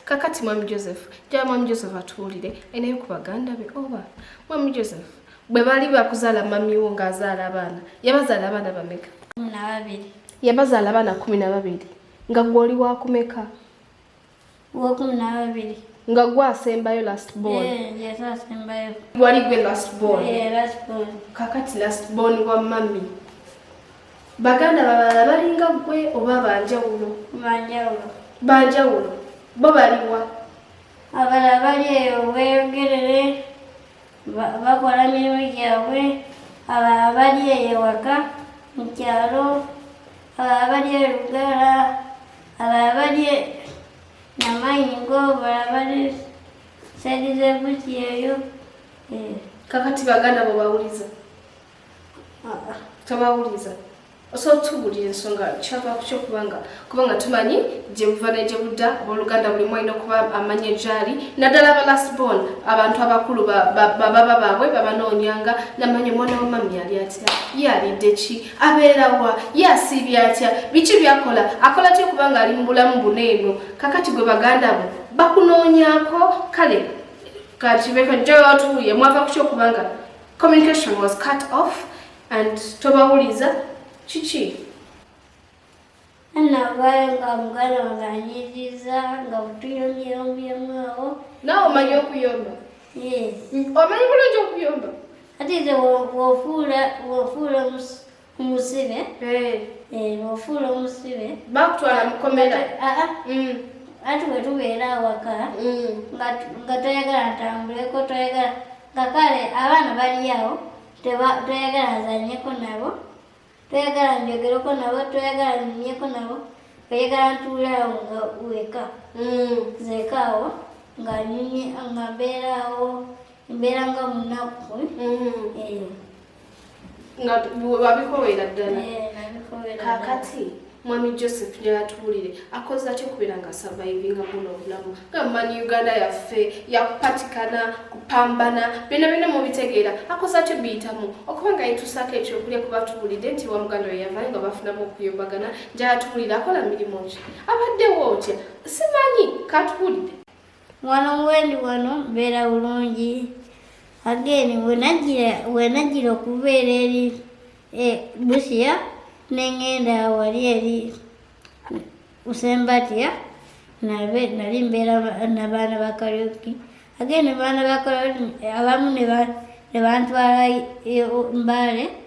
kakati mwami joseph njala mwami joseph atuwulire enaye ku baganda be oba mwami joseph bwe bali bakuzaala mamiwo ng'azaala abaana yabazaala abaana bameka yabazaala abaana kumi na babiri nga gwoli wakumeka wokumi nababiri nga gwe asembayo last born asembayo wali gwe last born kakati last born wa mami baganda babalala balinga gwe oba banjawulo banjawulo bo baliwa abala bali eyo weyogerere bakola mirimu gyabwe abalala bali eyo ewaka mu kyalo abalala bali e lugala abalala bali e namayingo abalala bali saidi zebuki eyo eh. kakati baganda bwe bawuliza tabawuliza osobola tubulira ensonga kyava kukyo kubanga kubanga tumanyi gyebuva negyebudda abooluganda buli mwalina okuba amanya egyali naddala aba last born abantu abakulu bababa baabwe babanoonyanga namanya omwana wamami yali atya yalidde ki abeerawa yasiibya atya biki byakola akola tya okubanga ali mu bulamu buno eno kakati gwe baganda bo bakunoonyako kale kakibeka jootuuye mwava kukyo kubanga Communication was cut off and tobawuliza kiki anavayo nga muganda wange anyiriza nga butuyombyeyombyemu awo nawe omanyi okuyomba omanyi bulungi okuyomba ati nze wofuula Umusibe? Eh. Eh, bofula umusibe. Bakutwala mukomera. Ah ah. Mm. Ati bwe tubeera awaka mm. nga toyagala ntambuleko toyagala nga kale abaana bali awo toyagala azanyeko nabo toyagala njogereko nabo toyagala nyumyeko nabo oyagala ntuule awo nga weka mm. zeka awo nga nyumye nga mbeera awo mbeera nga munaku mm. eh. nga wabikowera ddala eh, kakati mwami joseph neyatuwulire akoze atya okubeera nga survivinga buno obulamu nga mumanyi uganda yaffe yakupatikana kupambana byona byona mubitegeera akoze atya obiyitamu okuba nga yetusaako ekyokulya kuba tuwulidde nti wa muganda we yavayo nga bafunamu okuyombagana njala tuwulire akola mirimu ki abaddewo otya simanyi katuwulidde wano wendi wano mbeera bulungi ageni wenajjira okubeera eri e, busiya nengenda wali eri usembatiya nali mbeera nabaana bakarioki ageni baana bakarioki abamu nebantwala e, mbaale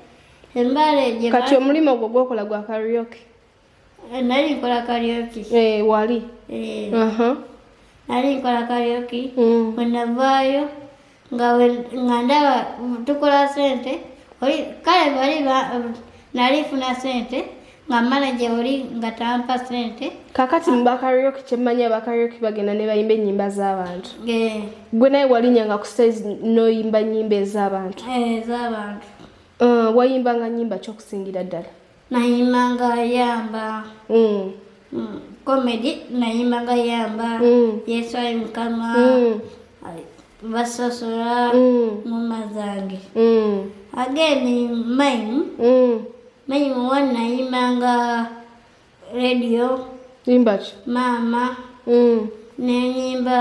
embaale kati omulimu ogwo gwokola gwa karioki Eh, nali nkola karaoke. Eh, wali. Eh. Uh -huh. Nali nkola karaoke. Mm. Wenavaayo nga nga ndaba tukola sente oli kale bali nali funa sente nga manager oli nga tampa sente. Kakati mu bakaraoke kyemmanyi abakaraoke bagenda ne bayimba ennyimba z'abantu. Eh. Gwe naye walinyanga ku stage n'oyimba nnyimba ez'abantu. Eh, ez'abantu. Uh, wayimbanga nnyimba kyokusingira ddala. nayimba nga yamba mm. mm. comedy nayimba nga yamba mm. yesu ayi mukama mm. basosola mm. ngoma zange mm. again mime mm. mime one nayimba nga radio imbaki mama mm. nenyimba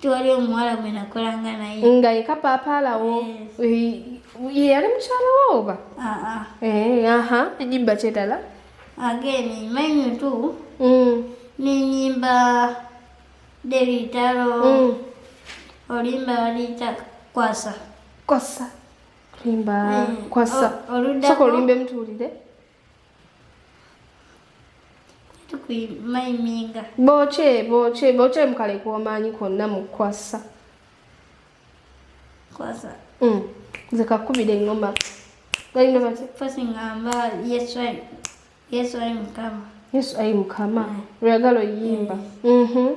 tewali omuwala gwe nakolanga naye nga yeka paapa alawo yeyali mukyala wo oba aha enyimba kyedala ageni manyu tu mm. nenyimba debitalo mm. olimba baliyita kwasa kwasa olimba eh, kwasa soka olimba emituwulire kuimayiminga boce boce boce mukale kuomanyi kwonna mukwasa kwasa mm. zikakubira engoma galinga bati fasi ngamba yesu ayi yesu ayi mukama yesu ayi mukama mm. lweyagala oyimba mm. mm-hmm.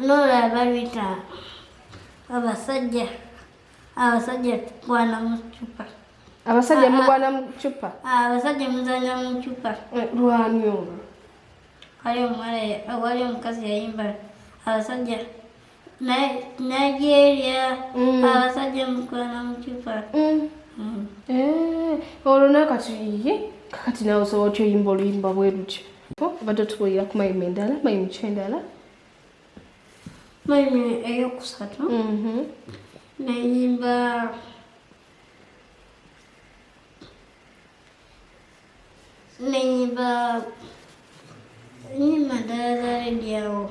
Lola babita abasajja abasajja tukwana mu ccupa abasajja mugwana mu ccupa abasajja muzanya mu ccupa lwani olwo wali omukazi yayimba abasajja Nigeria mm. abasajja mukwana mucupa mm. mm. eh, olwo nakati ye kakati nawe osobola otya oyimba oluyimba bwerutyo obadde otubuulira ku mayima endala mayima ki endala mayima eyokusatu mm-hmm. nayimba nayimba nyimba ndala zaledyaawo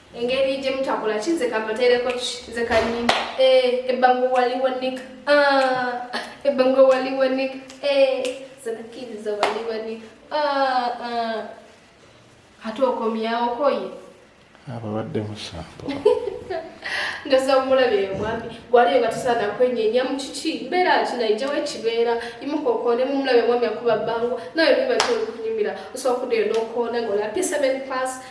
engeri gye mutakola ki nze kambateereko ki nze kanyini eh, ebbango waliwo nik ah, ebbango waliwo nik eh, zanakkiriza waliwo nik ah, ah. ate okomyawo koye ababadde musambo ndoza omulabe mwami gwaliyo nga tusaana kwenyenya mu kiki mbeera ki naijawo ekibeera imukokoone mu mulabe mwami akuba bbango nawe biba kyolikunyumira osobola okudeyo nokoona ngaolapisa men pass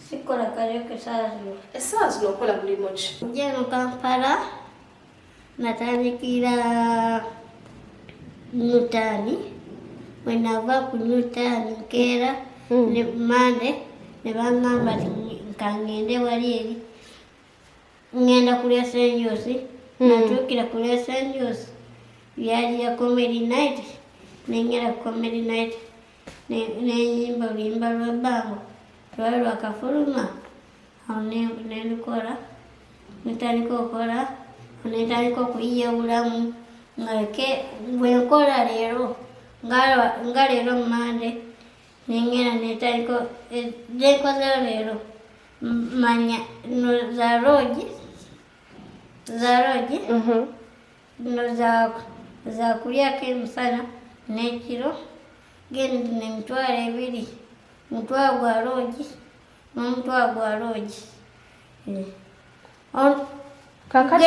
Sikola kaleka esaa zino. Esaa zino okola mulimu ki? Nja eno Kampala natandikira Newtani bwe nava ku Newtani nkeera hmm. ne ku Mande ne bangamba ti nkangende wali eri ngenda kulya senjosi hmm. natuukira kulya senjosi byali ya comedy night nengera ku comedy night nenyimba oluyimba lwa bbango lwali lwakafuluma awo nelukola netandika okola netandika okuyiyawulamu nga bwenkola leero nga leero mumande nengera netandika nenkozeyo leero manya za rogi za rogi Zino zakulyako emisana n'ekiro gendi nemitwalo ebiri mutwalo gwa loogi n'omutwalo gwa loogi eh. kakati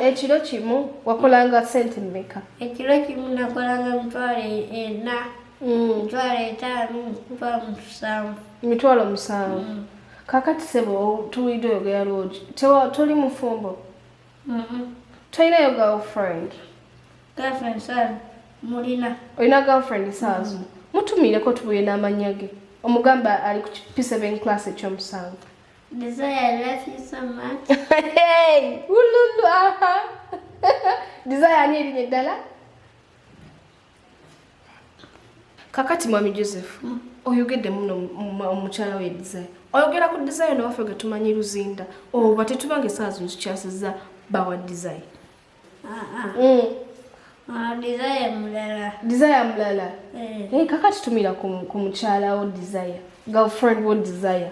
ekiro kimu wakolanga sente mmeka ekiro kimu nakolanga mitwalo ena mm. mitwalo etaano mitwalo musanvu mitwalo musanvu mm. kakati sebo tuwulidde oyogera loogi toli mufumbo tolinayo girlfriend girlfriend saazu mulina olina girlfriend saazu mm. mutumiireko tubuye n'amannya ge omugamba ali ku p7 class ekyomusanvu desire love you so much hey ululu aha desire ani erinye ddala kakati mwami joseph mm. oyogedde muno omukyala we desire oyogera ku desire newaffe ge tumanyi luzinda oba tetubanga esaawa zino tukyasiza bawa desire ah, ah. mm. ah, desire mulala desire mulala eh. Eh, kakati tumira ku mukyala wo desire girlfriend wo desire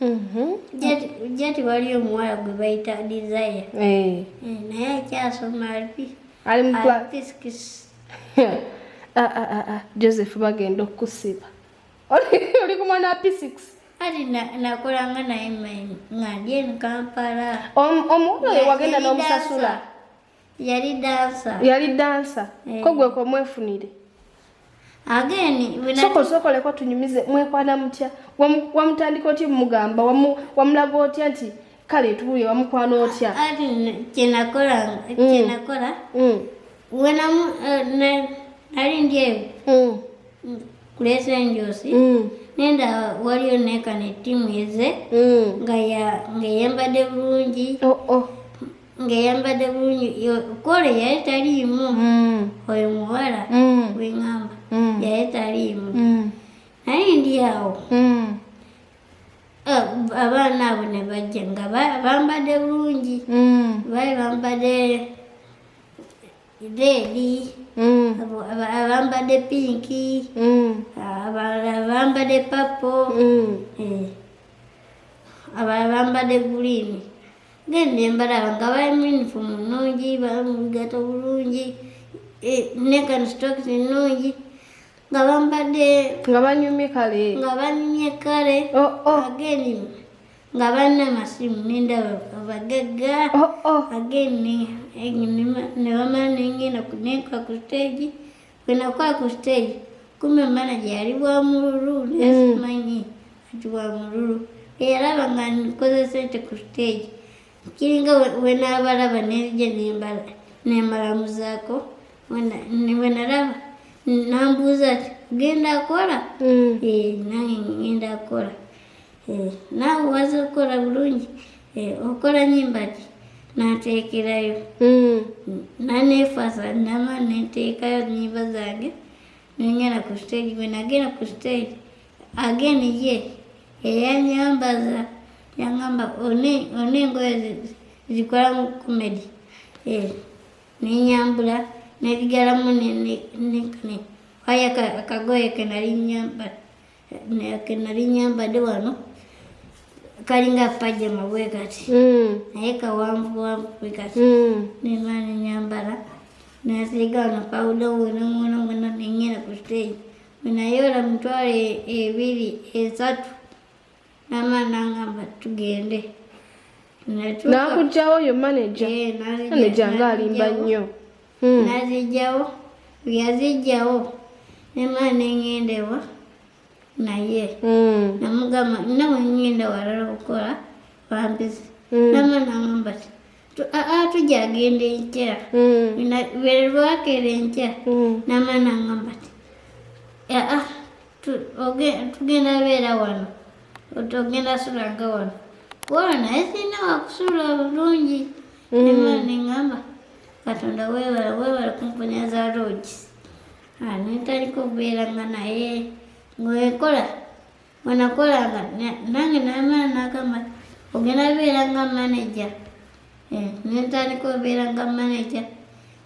Mhm. Jati waliyo omuwala gwe bayita Desire eh. Eh, naye akyasoma alipi ali mu physics ah, ah, ah, Joseph bagenda okukusiba oli ku mwana wa physics ali nakolanga naye nga ndi eno Kampala omuwala oyo wagenda n'omusasula Yali dancer. Yali dancer. Eh. Ko gwe ko mwefunire. Again, when soko soko leko tunyumize mwekwana mutya wamutandika oti mugamba wamulaga otya nti kale tubuye wamukwana otya kyenakola mm. kyenakola mm. wena eh, nali ndyeyo mm. kulesa enjosi nenda waliyo nekana etimu eze nga yeyambadde bulungi oh, oh. ngeyambadde bulungi kole yali taliimu mm. oyo muwala mm. wengamba mm. yali taliimu naye ndi awo eh, abaana abo ne bajja nga bambadde bulungi bali bambadde reedi abambadde pinki abambadde papo eh. abambadde guliini ngende mbalaba nga bali mu uniform nnungi bali mu bigato bulungi eh, nekano stokes nnungi nga bambadde nga banyumye kale nga banyumye kale oh, oh. ageni nga balina masimu nendaba abagagga oh, ageni nebamala nengenda kuneka ku stage Unakuwa kusteji, kumbe manager aliwa mululu nesimanyi ati wa mululu era banga nikoze sente ku stage kiringa wenabalaba nerija nembala nemalamuzaako wenalaba nambuuza ati genda akola mm. eh, nange ngenda akola Eh, naawe waza okukola bulungi eh, okola nyimbaki nateekerayo hmm. naneefasa nama neteekayo nyimba zange nengenda ku stage bwe nagenda ku stage again ye eyanyambaza yangamba one engoye zikola mu comedy eh, nenyambula nezigalamu nekane waya akagoye kenali nyambala nake nali nyambadde wano kalinga pajama bwe kati hmm. naye kawanvuwanvu bwe kati hmm. neba nenyambala nasiiga wano pawuda wonamwona mwona nenyera ku stage wenaye olamutwala ebiri esatu Mama nangamba tugende. Nakujjawo yo manager. Eh, manager nga alimba nnyo. Hmm. Nazijjawo. Yazijjawo. Nema nengenda ewa naye. Hmm. Namugamba nawe ngenda walala okukola bambizi. Hmm. Nama nangamba ti tujja agenda enkya. Bwe lwakera enkya. Nama nangamba ti. Ah, ah. tugenda beera wano otogenda sulanga wano kuba naye sirina wakusuula bulungi neŋamba mm. katonda webale webale kumponya za loogi ah, netaliko okubeera nga naye ngaekola wenakolanga nange namala nagamba ogenda beera nga manaja eh, netaliko obeera nga manaja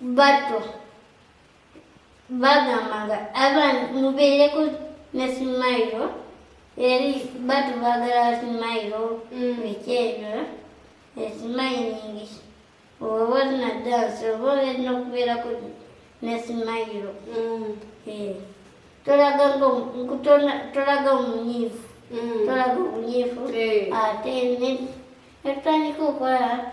bato bagambanga abantu mubeereko ne simayiro eri bato bagala simayiro mm. ekyejo esimayiningi oba walina dansi oba olina okubeerako ne simayiro mm. eh. tolaga tolaga omunyiivu mm. tolaga omunyiivu eh. ate netutandika okola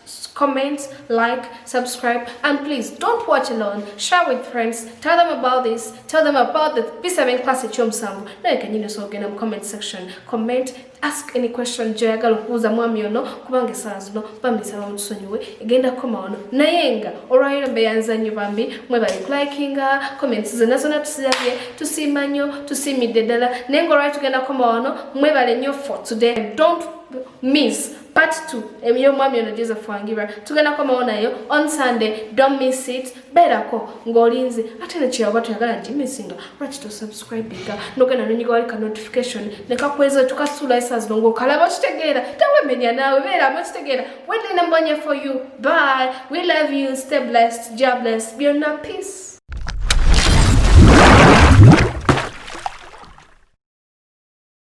comment, like, subscribe, and please don't watch alone. Share with friends. Tell them about this. Tell them about the P7 class at Chomsambu. Now you can you know, so again, comment section. Comment, ask any question joyagala okubuuza mwami ono kubanga esaala zino bambi nsaba mutusonyiwe egenda kukoma ono naye nga olwaliro mbeyanza nnyo bambi mwebali kulikinga comments zonna zonna tusirabye tusiima nnyo tusiimidde ddala naye nga olwali tugenda kukoma ono mwebale nnyo for today don't miss part 2 emiyo mwami ono joseph wangira tugenda komawo nayo on sunday don't miss it berako ng'olinze ate nekyeyoba toyagala gimisinga lwaki tosubscribinga nogenda nonyiga wali ka notification nekakweza tukasuula esa zino ngaokalaba okitegeera tewemenya naawe beeramu okitegeera wedena mbonye for you bye we love you stay blessed ja bless byonna peace